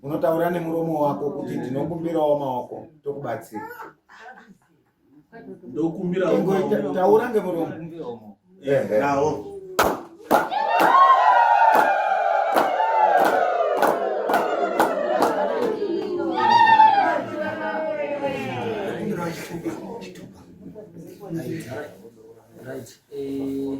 unotaura nemuromo wako kuti ndinokumbirawo maoko tokubatsira taura ngemuromo Right. Eh,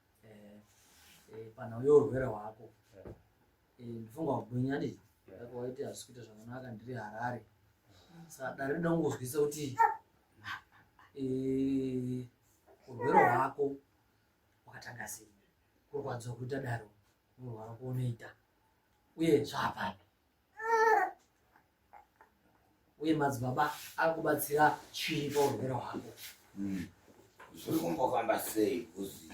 eh, eh, panhauyo urwere hwako eh, ndifunga kugwinya ndi ako waiti hazvisi kuita zvakanaka ndiri harare saka dare rida kungozwisa kuti urwere hwako wakatanga sei kurwadziwa kuita daro urwara kuonoita uye zvaapapi uye madzibaba akubatsira chii paurwere hwako hmm. zviri kumbofamba sei kuzi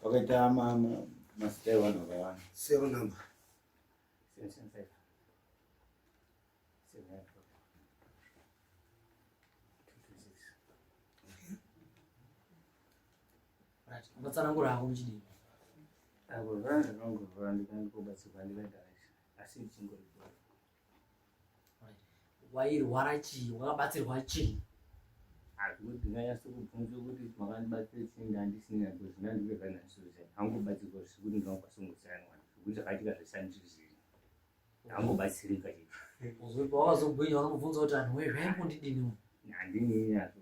pakaita mama mazita evanhu vakawanda sero number ungatsanangura hako muchidii avo vana zvakangovhura ndikandikobatsirwa ndikagarachi asi ndichingoripo wairwara chii wakabatsirwa chii hazvingotindanyasi kubvunza kuti makandibatsira chii ndandisina kuzvina ndikuzvanasoza hangobatsirwa zvekuti ndinokwasungutsirana zvekuti zvakaitika zvesandizivi Angobatsirika chete. Uzoipa wakazogwinya unomubvunza kuti anhu wezve ari kundidini uyu. Handinini hazvo.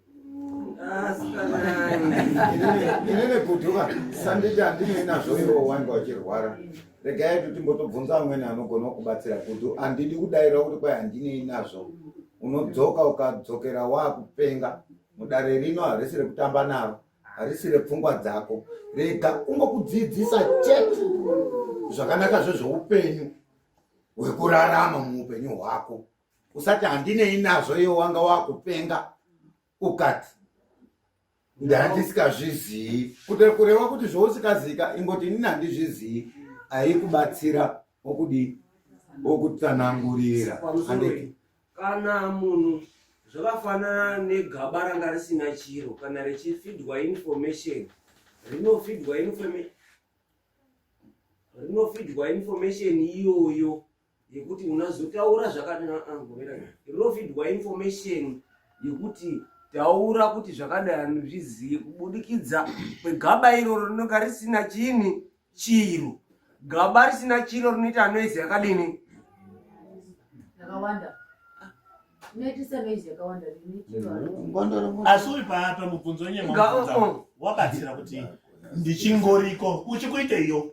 inene kutuka sanditi andinei nazvo iwe wanga uchirwara regai kuti timbotobvunza amweni anogona kubatsira kuti andidi kudaira kuti kwai handinei nazvo unodzoka ukadzokera wakupenga mudare rino harisi rekutamba naro harisi repfungwa dzako rega kungokudzidzisa chete zvakanaka zvezveupenyu hwekurarama muupenyu hwako usati handinei nazvo iyo wanga wakupenga ukati ndandisikazvizii kuti kureva kuti zvousikazika ingoti inini handizvizii aikubatsira okudii okutsanangurira anditi Kana munhu zvakafanana negaba ranga risina chiro kana richifidwa information rinofidwa information rinofidwa information iyoyo yekuti unazotaura zvakatinofidwa ah, ah, information yekuti taura kuti zvakadai anozvizive kubudikidza kwegaba iroro rinonga risina chini chiro gaba risina chiro rinoita noise yakadini yakawanda asi uri paapa mubvunzo wenye wabatsira kuti ndichingoriko uchikuiteiyo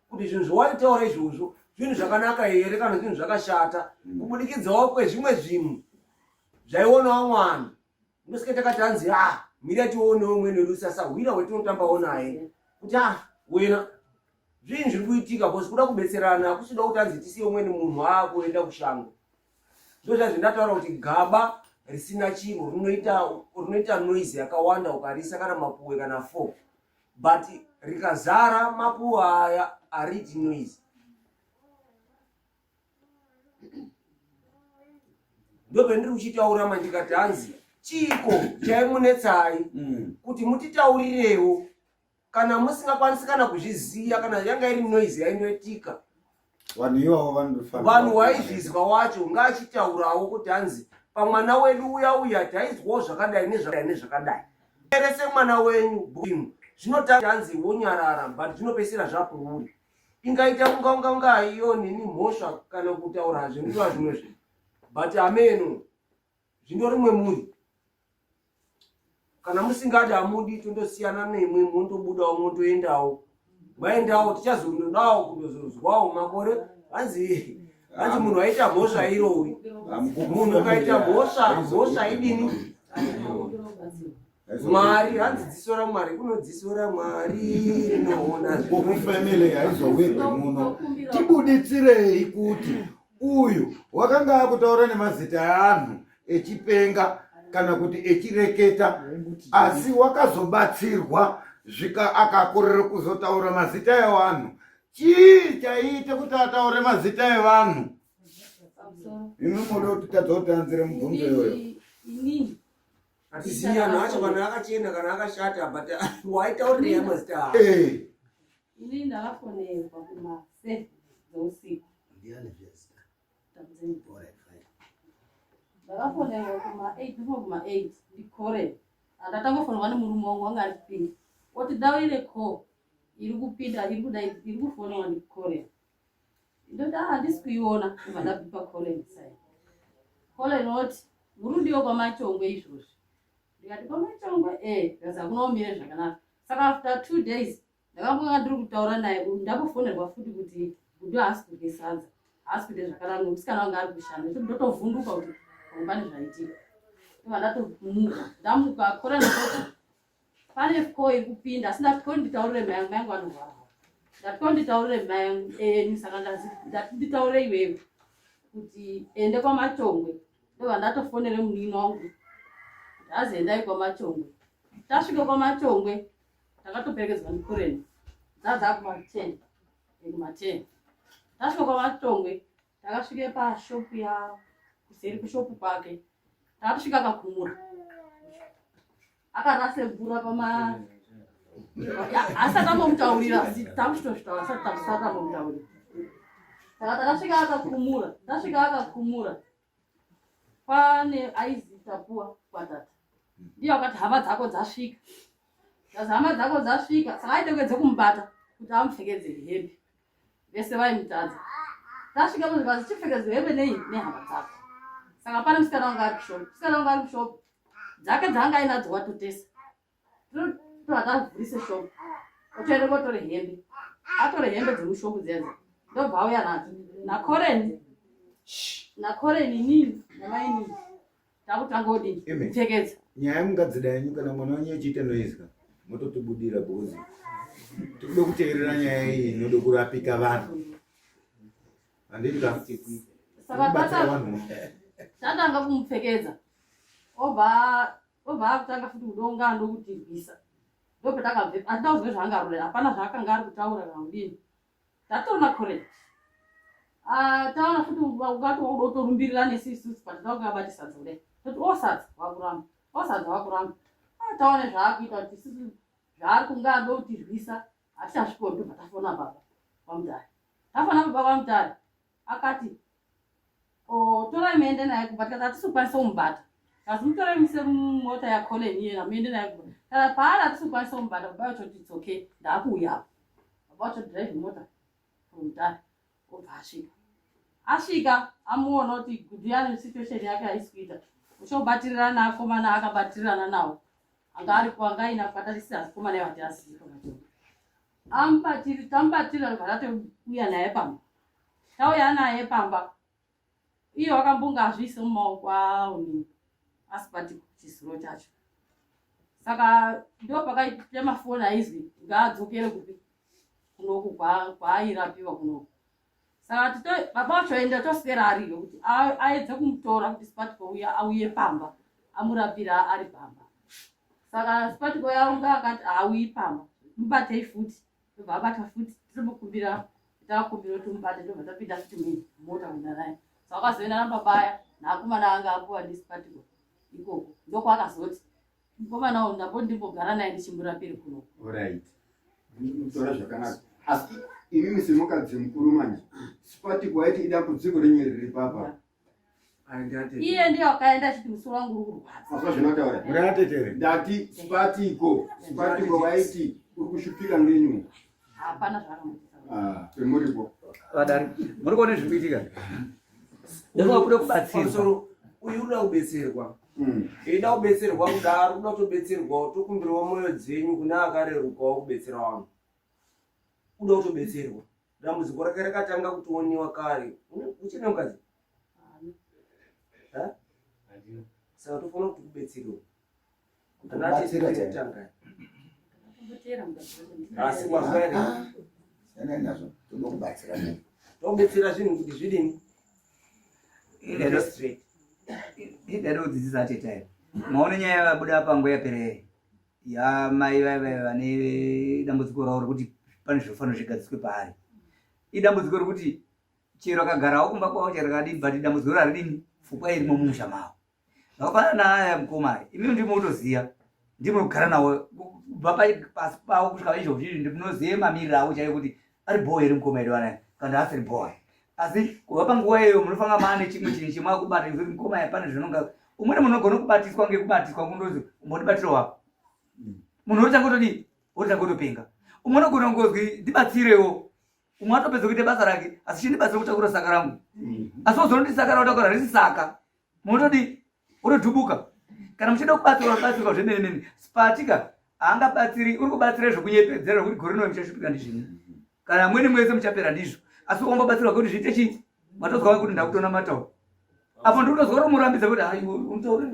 kuti zvinhu zvowaitaura izvozvo zvinhu zvakanaka here kana zvinhu zvakashata mm. kubudikidzawo kwezvimwe zvinhu zvaionawo mwana ndosike takati hanzi a ah, mira tionewo umweni wedu sasahwira wetinotambawo naye kuti a ah, wena zvinhu zviri kuitika bcause kuda kubetserana hakusida kuti hanzi tisiye umweni munhu aakuenda kushango ndozvazvi ndataura kuti gaba risina chiro rinoita noise yakawanda ukarisa kana mapuwe kana fo but rikazara makuva aya ariti noise ndopendiri kuchitaura mandikati hanzi chiiko chaimunetsai mm. kuti mutitaurirewo kana musingakwanisi kana kuzviziva kana yanga iri noise yainoitika vanhu ivavo vanofanira vanhu waizvizwa wacho ngaachitaurawo kuti hanzi pamwana wedu uya uya taizwawo zvakadai nezvakadai nezvakadai erese mwana wenyu bwino zvinotanga hanzi wonyarara but zvinopesera zvakuuri ingaita kunga unga unga iyo nini mhosva kana kutaura zvinova zvimwe zvinhu but ameno zvino rimwe muri kana musingadi hamudi tondosiyana nemwe mondobudawo mondoendawo maendawo tichazondodawo kundozozwawo makore hanzi hanzi munhu aita mhosva irowi munhu ukaita mhosva mhosva idini mwari hanzi dzisora mwari kunodzisora mwari rinoona zvokufamily haizowirwe muno tibuditsirei kuti Uyu wakanga akutaura nemazita eanhu echipenga kana kuti echireketa asi wakazobatsirwa zvika akakorera kuzotaura mazita evanhu chii chaiite kuti ataure mazita evanhu imi moda kuti tadzotanzire mubvunzo iyoyo atisiana acho kana akachena kana akashata but waitaurira mazita eh. Ini ndakafonerwa kuma seven dzeusiku. Ndiani zvese? Takudzeni. Alright, fine. Ndakafonerwa kuma eight ndipo kuma eight ndikore. Andatanga kufonerwa nemurume wangu wanga ari kupinda. Oti daurire call iri kupinda iri kuda iri kufonerwa ndikore. Ndoti ah handisi kuiona kubva ndabipa call inside. Call inoti murudiwo kwamachongwe izvozvi. Ndikati kwamachongwe eh ndikazi akunomire zvakanaka. Saka after two days ndakambonga ndiri kutaura naye uyu ndakufonerwa futi kuti gudo haasi kudye sadza haasi kuita zvakanaka nomusikana wanga ari kushanda nekuti ndotovhunduka kuti pamwe pane zvaitika iva ndatomuka ndamuka kora ndakoti pane fko iri kupinda asi ndati konditaurire mayangu mayangu anorwara ndati konditaurire mayangu enyu eh, saka ndazi ndati nditaure iwewe kuti ende kwamachongwe ndova ndatofonere munini wangu kuti aziendai kwamachongwe tasvike kwamachongwe takatoperekedzwa nekureni dzadzaa kumaten kumaten tasvika kwavatongwe takasvike pashopu ya kuseri kushopu kwake takatosvika akakumura akarase mvura pama asati amomutaurira takuchitozvitaura asati takusati amomutaurira saka takasvika akakumura tasvika akakumura Pane aizi tapuwa kwatata. Ndiye akati hama dzako dzasvika. Kazi hama dzako dzasvika, saka aitengedze kumubata kuti amupfekedze hembe. Vese vaimutadza. Tasvika muzvikazi chipfekedze hembe nei nehama dzako. Saka pane musikana wanga ari kushop. Musikana wanga ari kushop. Dzake dzaanga ainadzo watotesa. akavhurise shopu otoenda kotore hembe atore hembe dzemushopu dzenza ndobva auya nadzo nakoreni nakoreni inini namainini takutanga odii kupfekedza nyaya mungadzida yenyu kana mwana wenyu echiita noizwa mototibudira bhozi tikuda kuteerera nyaya iyi inoda kurapika vanhu anditikavanhu tatanga kumupfekedza obva Ndobva akutanga futi kudonga ndokutirwisa. Ndopatakabve andina kuzwe zvaanga arorera hapana zvaakanga ari kutaura kana kudini. Tatoona correct. Ah taona futi ungati wakuda kutorumbirira nesu isusu but takuda bati sadza kudai. Toti osadza oh, wakuramba. Osadza oh, wakuramba. Ah taona zvaakuita kuti isusu zvaari kunga ado kutirwisa hatichasvikoni tobva tafona baba. Vamudari. Tafona baba vamudari. akati oh, torai muende naye kumba tikati hatisi kukwanisa kumubata kasi mutorai muse mota yacolen iyena muende naye kumba kana paari hatisi kukwanisa kumubata baba vacho kuti itsoke ndaakuuya apo baba vacho drive mota kumutara obva asvika asvika amuona kuti gudiyani situation yake haisi kuita uchobatirana akomana akabatirana nawo anga ari kuanga aina kukatarisa akomana yavati asiiaa Ambatiri tambatira ndobva tatouya naye pamba. Tauya naye pamba. Iye wakambonga azviise mumaoko awo ni asibati chisiro chacho. Saka ndo pakaita mafoni aizwi ngaadzokere kupi kunoku kwaayirapiwa kunoku. saka tito baba vacho vaenda toswera ariyo kuti aedze kumutora kuti sipatiko uya auye pamba amurapira ari pamba saka sipatiko yaunga akati haauyi pamba mubatei futi tobva abata futi titomukumbira takumbira kuti mubate tobva tapinda futi mumota kuenda naye saka wakazoenda nababaya naakomana anga apuwa nesipatiko ikoko ndokwakazoti Mukomana uyu ndamboti ndimbogara naye ndichimurapiri kuno. Alright. Tora zvakanaka. Asi imimi semukadzi mukuru manje sipati kwaiti ida kudziko renyu riri papa. Iye ndiye wakaenda achiti musoro wangu uri kurwadza. Mazwa zvinotaura. Murate tere. Ndati sipatiko. Sipatiko vaiti uri kushupika ngenyu. hapana zvaakamuripo vadari muri kuona zviri kuitika ndoa kuda kubatsirwa uyu unoda kubetserwa eida hmm. kubetserwa kudaro unoda kutobetserwawo tokumbirawo mwoyo dzenyu kune akarerukawo kubetsera vanhu uda kutobetserwa dambudziko rake rakatanga kutioniwa kare uchine mukadzi saka tofanira kuti kubetserwa Kubatsira chaitangai. Asi kwazvari. Yana nazvo tokubatsira. Tokubatsira zvinhu kuti zvidini? Idero straight. Idero kudzidzisa tete. Maone nyaya yabuda pango yapere. Ya mai vaive vane dambudziko ravo rekuti pane zvofanira zvigadziswe paari. Idambudziko rekuti chero akagarawo kumba kwavo chero kadibva idambudziko raridini fukwa irimo mumusha mavo. Zvakafanana naaya mukoma aya, imi ndimi munotoziva, ndimi munogara nawo kubva pasi pavo kusvika paizvozvizvi, ndimi munoziva mamiriro avo chaiyo kuti ari bhowa here mukoma here vanaya kana kuti asiri bhowa. Asi kubva panguva iyoyo munofanira maa nechimwe chinhu chemwakubata nekuti mukoma aya pane zvinonga umweni munhu unogona kubatiswa ngekubatiswa kundozi umbotibatira wapo munhu otanga otodii otanga otopenga umwe unogona kungonzi ndibatsirewo umwe atopedza kuita basa rake asi chindibatsira kutakura saka rangu mm-hmm. asi ozonoti saka raotakura risi saka Munotodii? Unotubuka. Kana muchida kubatsirwa batsirwa zvemene mene. Spatika haangabatsiri, uri kubatsira zvekunyepedzera kuti gore rino muchashupika ndizvino. Kana amweni mwese muchapera ndizvo. Asi ukambobatsirwa kuti zviite chii? Matozwa kuti ndakutona matawo. Apo ndiri kutozwa kuti murambidza kuti hayi unotaura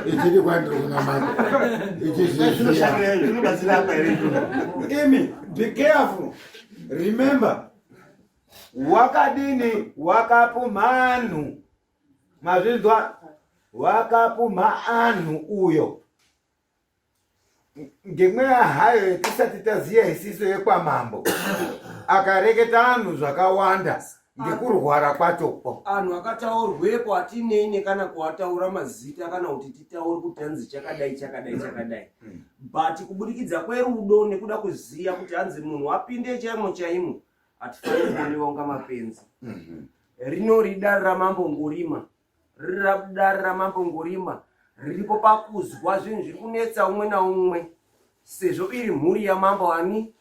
ichiri kwandiri kunamata ichizvibatsira apa here imi be careful remember wakadini wakapu mhanhu mazvinzwa wakapu mhaanhu uyo ngemweya hayo yatisati taziya isiso yekwamambo akareketa anhu zvakawanda ngekurwara kwachoko anhu akataurwepo atinei nekana kuataura mazita kana kuti titaure kuti hanzi chakadai chakadai chakadai hmm. but kubudikidza kwerudo nekuda kuziya kuti hanzi munhu apinde chaimo chaimo hatifaniri kuonekwa kunga mapenzi mhm. rinori dare ramambo ngurima riri dare ramambo ngurima riripo pakuzwa zvinhu zviri kunetsa umwe naumwe sezvo iri mhuri yamambo ani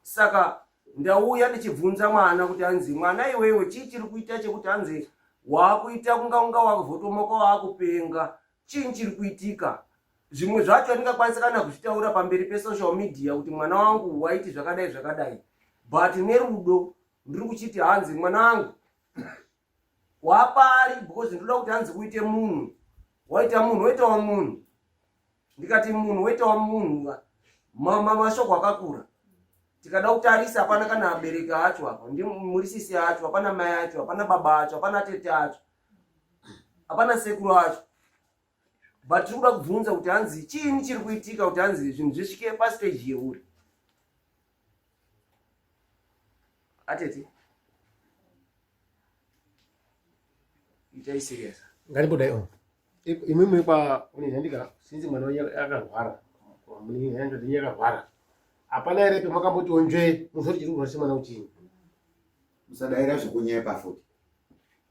saka ndauya ndichibvunza mwana kuti hanzi mwana iwewe chii chiri kuita chekuti hanzi waakuita kunga unga wakuvotomoka waakupenga chii chiri kuitika zvimwe zvacho andingakwanisa kana kuzvitaura pamberi pesocial media kuti mwana wangu waiti zvakadai zvakadai but nerudo ndiri kuchiti hanzi mwana wangu wapari because ndinoda kuti hanzi uite munhu waita munhu woitawo munhu ndikati munhu woitawo munhu mashoko akakura tikada kutarisa hapana kana abereki acho apa ndi murisisi acho hapana mai acho hapana baba acho hapana tete acho hapana sekuru acho but tiri kuda kubvunza kuti hanzi chiini chiri kuitika kuti hanzi zvinhu zvisvike pasteji yeuri atete itai serious ngandibodai o imwimwe kwa unezandika sinzi mwana wenyu akarwara munini yanjo dzenyu yakarwara hapana ere pemakamboti onzve muzoti chiri kurwarisa mwana uchinyi musadaira zvekunyepa futi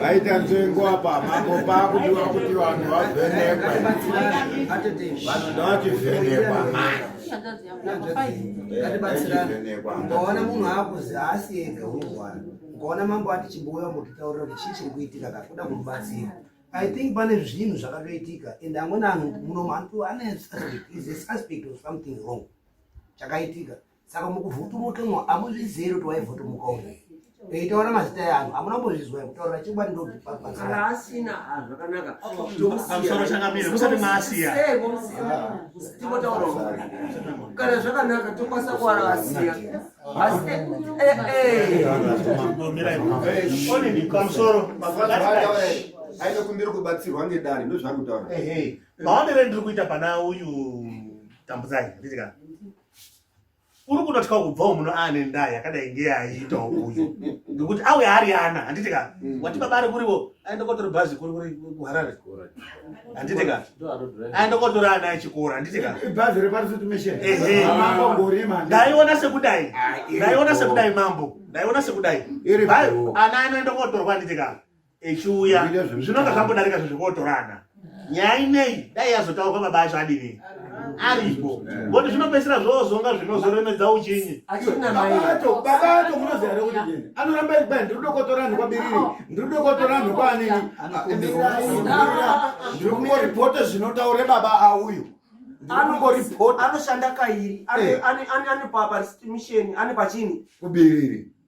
vaita nzvengo apa makomba akudiwa kuti vanhu vavhenekwe vanhu ndavachivhenekwa ukaona munhu akuzi haasi ega unorwara ukaona mambo ati chibuya mukitaurira kuti chii chiri kuitika kakuda kumubatsira I think pane zvinhu zvakatoitika and amweni anhu muno mantu ane suspect is a suspect of something wrong chakaitika saka mukuvhutumukemwa amuzvizero kuti waivhutumuka uno eitaura mazita eanhu amuna mbozvizwa yekutaura chingwa ndozvipaasina zvakanaka pamusoro changamire musati maasiya timotaurawo kana zvakanaka tokwanisa kuwara asiya ainokumbira kubatsirwa ngedare ndozvaari kutaura maonere ndiri kuita pana uyu tambudzai nditika uri kutotya kubvawo muno aane ndaa yakadai ngeyaaiitawo uyu ngekuti auya ari ana handitika mm. wati baba ari kuriwo aenda kotori bhazi kuri kuri kuharare handiti ka aenda kotora ana echikoro handiti ka ibhazi reparisitmishndaiona sekudai ndaiona sekudai mambo ndaiona sekudai ana anoenda kotorwa handiti ka echiuya zvinonga zvambodarika zvezvekuotorana nyaya inei dai yazotaurwa baba acho adini aripo boti zvinopedzisira zvozonga zvinozoremedza uchinyi babato babato munoziva here kuti jeni anoramba iri pai ndiri dokotora anhu kwabiriri ndiri dokotora anhu kwaanini ndiri kungoripota zvinotaure baba auyu anoshanda kairi eh. ane papa misheni ane pachini kubiriri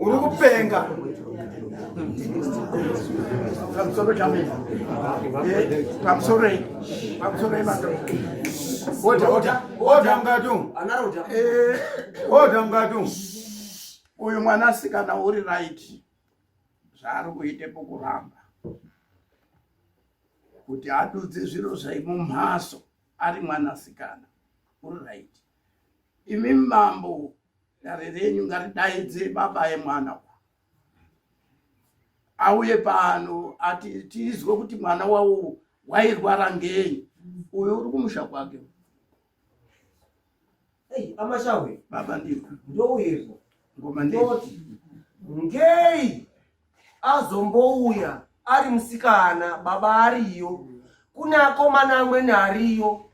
uri kupenga pamusoro chamina pamusoro pamusoro imato oda oda oda mukatu oda mukatu uyu mwana asikana uri right zvaari kuite pokuramba kuti adudze zviro zvaimumhaso ari mwana asikana uri right imi mambo Dare renyu ngaridaidze baba yemwana uyu auye pano ati tizwe kuti mwana wawo wairwara ngenyi uyo uri kumusha kwake amashawe baba ndiko ndouyezo ngoma ndoti ngei azombouya ari musikana baba ariyo kune akomana amweni ariyo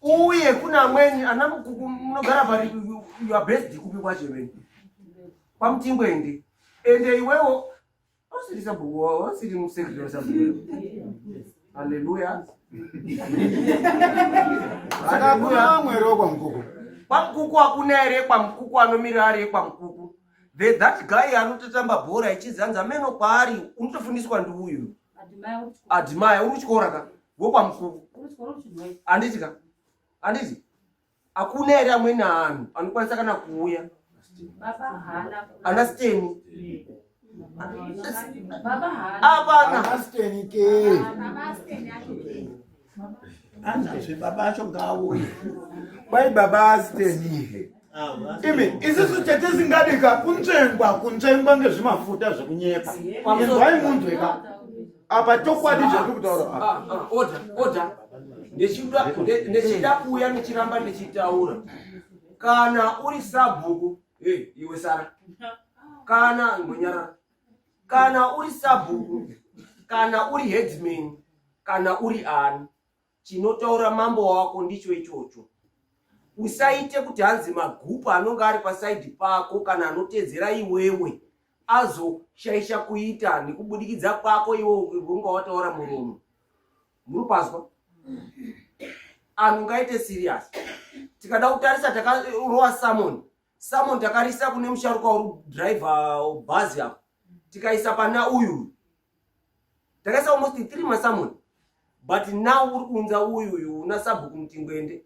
uye kune amweni ana mukuku munogara pari your best kupi kwacho imene pamutingo ende ende iwewo usiri sabhuku usiri musekretary wasabhuku haleluya saka kuna amwere wekwamukuku kwamukuku hakuna ere kwamukuku anomira ari ekwamukuku The, that guy anototamba bhora ichinzi hanzi ameno kwaari unotofundiswa ndiuyo admire uri kuchikora ka wokwamukuku anditi ka anditi hakuna here amweni anhu anokwanisa kana kuuya ana steni apana anazve baba acho ngaauye kwai baba asitenihe imi isisu chatisingadika kunzvengwa kunzvengwa ngezvimafuta zvekunyepa inzwai munzweka apa chokwadi chatiri kutaura ah, ndechida ah, kuuya ndichiramba ndichitaura kana uri sabhuku iwe sara kana ngonyarara kana uri sabhuku kana uri headman kana uri ani chinotaura mambo wako ndicho ichocho usaite kuti hanzi magupu anonge ari pasaidi pako kana anotedzera iwewe azoshaisha kuita nekubudikidza kwako iwe unga wataura muromo muri pazwa anhu ngaite serious tikada kutarisa takarowa samoni samo ndakarisa kune musharuka uri driver bhazi apo tikaisa pana uyu takaisa almost three masamoni but now uri kuunza uyu uyu una sabhuku mutingwende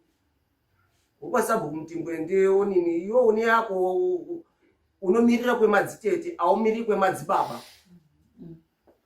ukwa sabhuku mutingwende onini iwe une yako unomirira kwemadzitete aumiriri kwemadzibaba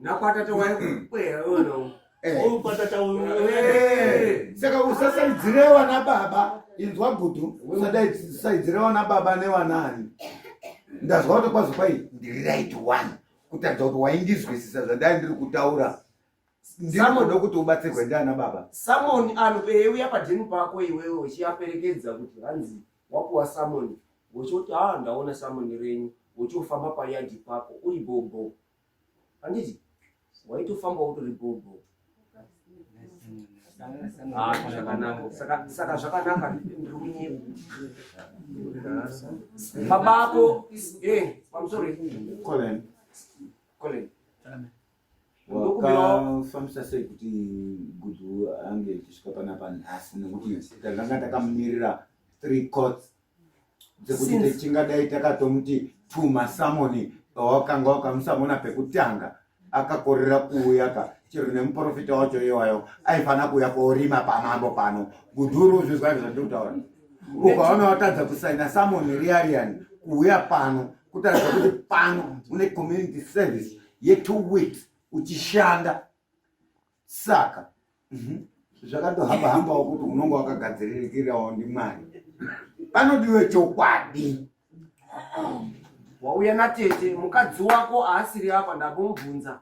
nakwatata waikukweyauno saka usasaidzire vana baba inzwa gudu usasaidzire vana baba nevanani ndazwa kuti kwazi kwai ndiri right one kutadza kuti waindizwisisa zvandai ndiri kutaura ndinoda kuti ubatsirwe ndiana baba samoni anoeuya padhenu pako iwewe uchiaperekedza kuti hanzi wapuwa samoni wochoti ha ah, ndaona samoni renyu wochofamba payadhi pako uri bhobho handiti waitofamba utori gogo ah, saka zvakanaka ndiri kunyepa baba ako eh, pamusori colen colen wakafambisa sei kuti gudu ange tichisvika panapa nhasi nekuti takanga takamirira three cots dzekuti tingadai takatomuti tuma samoni pawakanga wakamusamona pekutanga akakorera kuuya ka chero nemuprofita wacho iwayo aifanira kuuya korima pamambo pano gudhuru uzvizwa zvandikutaura ukaona watadza kusaina samoni riariani kuuya pano kutaridza kuti pano une community service yetwo weeks uchishanda saka mhm, zvakatohamba hambawo kuti unonga wakagadziririkirawo ndimwari panodiwe chokwadi wauya natete mukadzi wako aasiri apa ndambomubvunza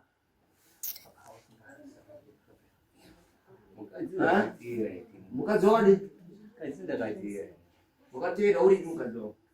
mukadzi wakadi mukadzi wakadi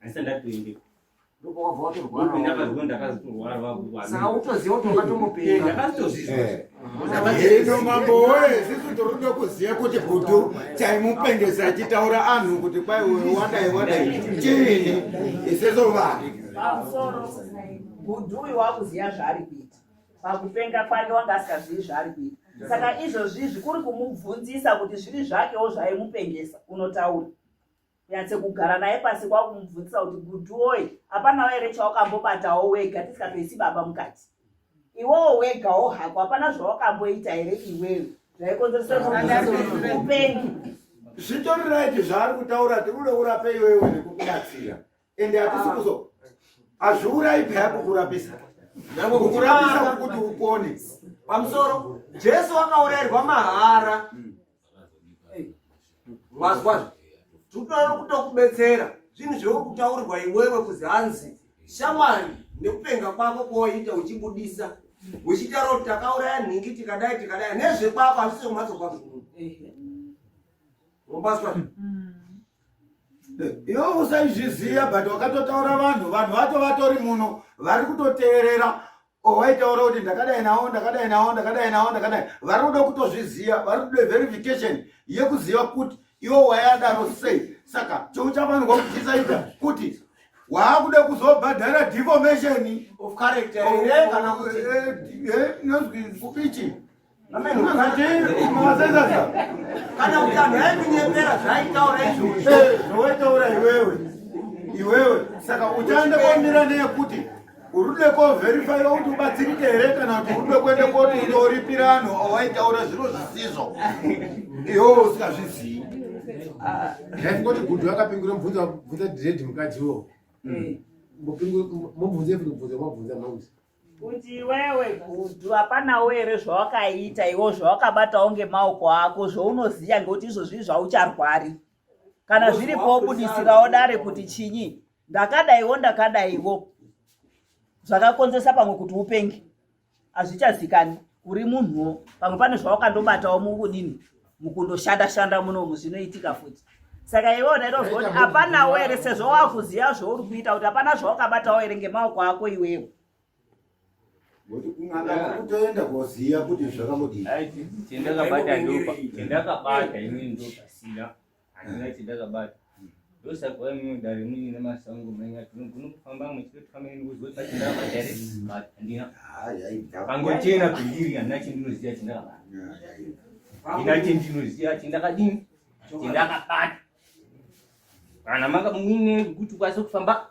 asi ndatoendeko ino mambo woye sisi toroda kuziva kuti gutu chaimupengesa achitaura anhu kuti kwai uyo wadai wadai chini iseso vanhu gutu uyu wakuziva zvaari kuita pakupenga kwake wanga asikazivi zvaari kuita saka izvozvi zvikuri kumubvunzisa kuti zviri zvakewo zvaimupengesa unotaura nyatse kugara naye pasi kwakumubvunzisa kuti guduoi hapanawo here chawakambobatawo wega tisingatoisi baba mukati iwowo wegawo hako hapana zvawakamboita here iwewe zvaikonzeresaupenyu zvitori raiti zvaari kutaura tikuda urape iwewe nekukubatsira ende hatisi kuzo hazviurayi paya kukurapisa kukurapisa kuti upone pamusoro jesu wakaurairwa mahara mazwazvo hmm. tinoda kutokubetsera zvinhu zviri kutaurirwa iwewe kuzi hanzi shamwari nekupenga kwako kwawaita uchibudisa uchitaura kuti takauraya nhingi tikadai tikadai nezvekwako hazvisi kumhatso kwako mumbaswa hmm. iwe usaizviziva but wakatotaura vanhu vanhu vato vatori muno vari kutoteerera owaitaura kuti ndakadai nawo ndakadai nawo ndakadai nawo ndakadai vari kuda kutozviziva vari kuda verification yekuziva kuti iwe wayadaro sei saka chouchafanirwa kuchisaita kuti waakuda kuzobhadhara deformation of character here kana kuti eh, eh, eh, inonzwi speech kana kuti anhu aikunyepera zvaitaura izvozvo zvawaitaura iwewe iwewe saka uchaenda kwamira neyekuti urude koverifya kuti ubatsirike here kana kuti urude kuende koti unoripira anhu awaitaura zviro zvisizvo iwewe usingazvizivi ndaingoti gudhu akapingura mubvunza bvunza diredi mukadzi iwowo mobvunza mobvunza mobvunza mauzi kuti iwewe gudhu hapanawo here zvawakaita iwo zvawakabatawo ngemaoko ako zvounoziva ngekuti izvozvi zvaucharwari kana zviripo wobudisirawo dare kuti chinyi ndakadaiwo ndakadaiwo zvakakonzesa pamwe kuti upenge hazvichazikani uri munhuwo pamwe pane zvawakandobatawo mukudini mukundoshanda shanda munomu zvinoitika futi saka iwe unaitozwa kuti hapanawo here sezvo wakuziva zvauri kuita kuti hapana zvawakabatawo here ngemaoko ako iwewo kutoenda koziva kuti zvakambodii chendakabata ndopa chendakabata ini ndopasina handina eh. chindakabata ndosaka imwe dare mune nemasango manya tinogona kufamba muchitotamba nekuzoiaangochena pindiri handina chendinoziva chindakabata handina chendinoziva chindakadini chindakabata kana maka muine kuti ukwanise kufamba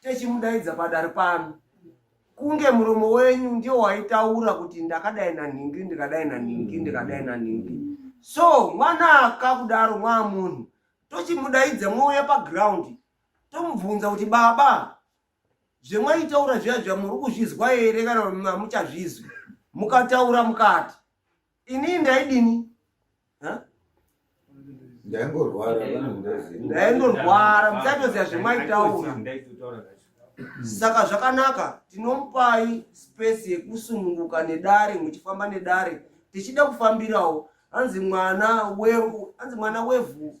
techimudaidza padare pano kunge muromo wenyu ndiwo waitaura kuti ndakadai nanhingi ndikadai nanhingi ndikadai nanhingi so mwana akakudaro mwaa munhu tochimudaidza mwouya pagraundi tomubvunza kuti baba zvemwaitaura zviya zviya muri kuzvizwa here kana mamuchazvizwi mukataura mukati Ini ndaidini? Huh? ndaingorwara ndaingorwara muchatoziva zvemaitaura saka zvakanaka tinomupai space yekusununguka nedare muchifamba nedare tichida kufambirawo hanzi mwana wevhu hanzi mwana wevhu